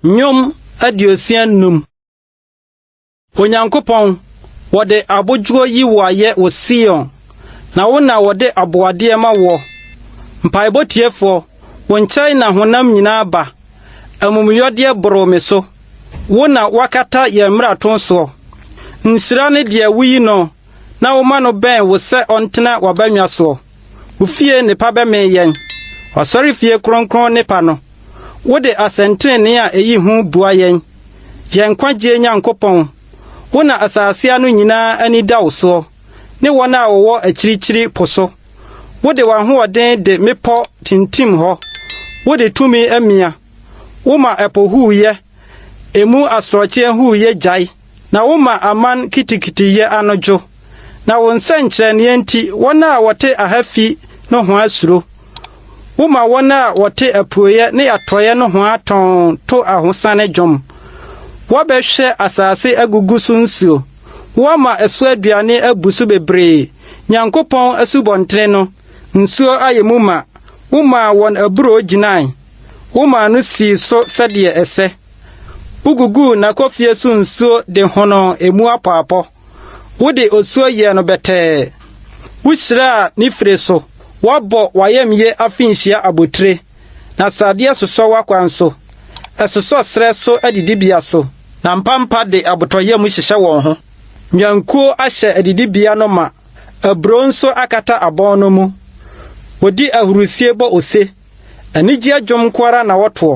Nnwom aduosia nnum. Onyankopɔn, wɔde abodwoɔ yi wo ayɛ wɔ Sion, na wo na wɔde aboadeɛ ma woɔ. Mpaebɔ tiefoɔ, wo nkyɛn na honam nyinaa ba, amumuyɔdeɛ boro me so. Wo na woakata yɛn mmarato soɔ. Nhyira ne deɛ woyi noɔ na woma no bɛn wo sɛ ɔntena w'abannwa soɔ. Wo fie nnepa bɛmee yɛn, w'asɔrefie kronkron nnepa no. Wode asɛntenenee a ɛyi hu boa yɛn, yɛn nkwagyeɛ Nyankopɔn. Wo na asase ano nyinaa ani da wo soɔ, ne wɔn a wɔwɔ akyirikyiri po so. Wode w'ahoɔden de mmepɔ tintim hɔ, wode tumi mia, woma ɛpo huuyɛ. emu asorɔkye ahuu yɛ gyae, na woma aman kitikiti yɛ ano dwo, na wo nsɛnkyerɛnneɛ nti wɔn a wɔte aha fi nohoa suro, woma wɔn a wɔte apueɛ ne atɔeɛ nohoa tɔnn to ahosane dwom. Wɔbɛhwɛ asase agugu so nsuo, woama ɛso aduane abu so bebree, Nyankopɔn asubɔntene no nsuo ayɛ mu ma, womaa wɔn aburoo gyinae. Womaa no sii so sɛdeɛ ɛsɛ. Woguguu n'akofie so nsuo de honoo emu apɔapɔ. Wode osuo yɛɛ no bɛtɛɛ. Wohyiraa ne fire so. Woabɔ w'ayamyie afinhyia abotire, na sradeɛ sosɔ w'akwan so. Ɛsosɔ serɛ so adidibea so. Na mpampa de abotɔyam hyehyɛ wɔn ho. Nnwankuo ahyɛ adidibea no ma. Aburoo nso akata abɔn no mu. Wɔdi ahurisie bɔ ose. Anigyeɛ dwom nko ara na wɔtoɔ.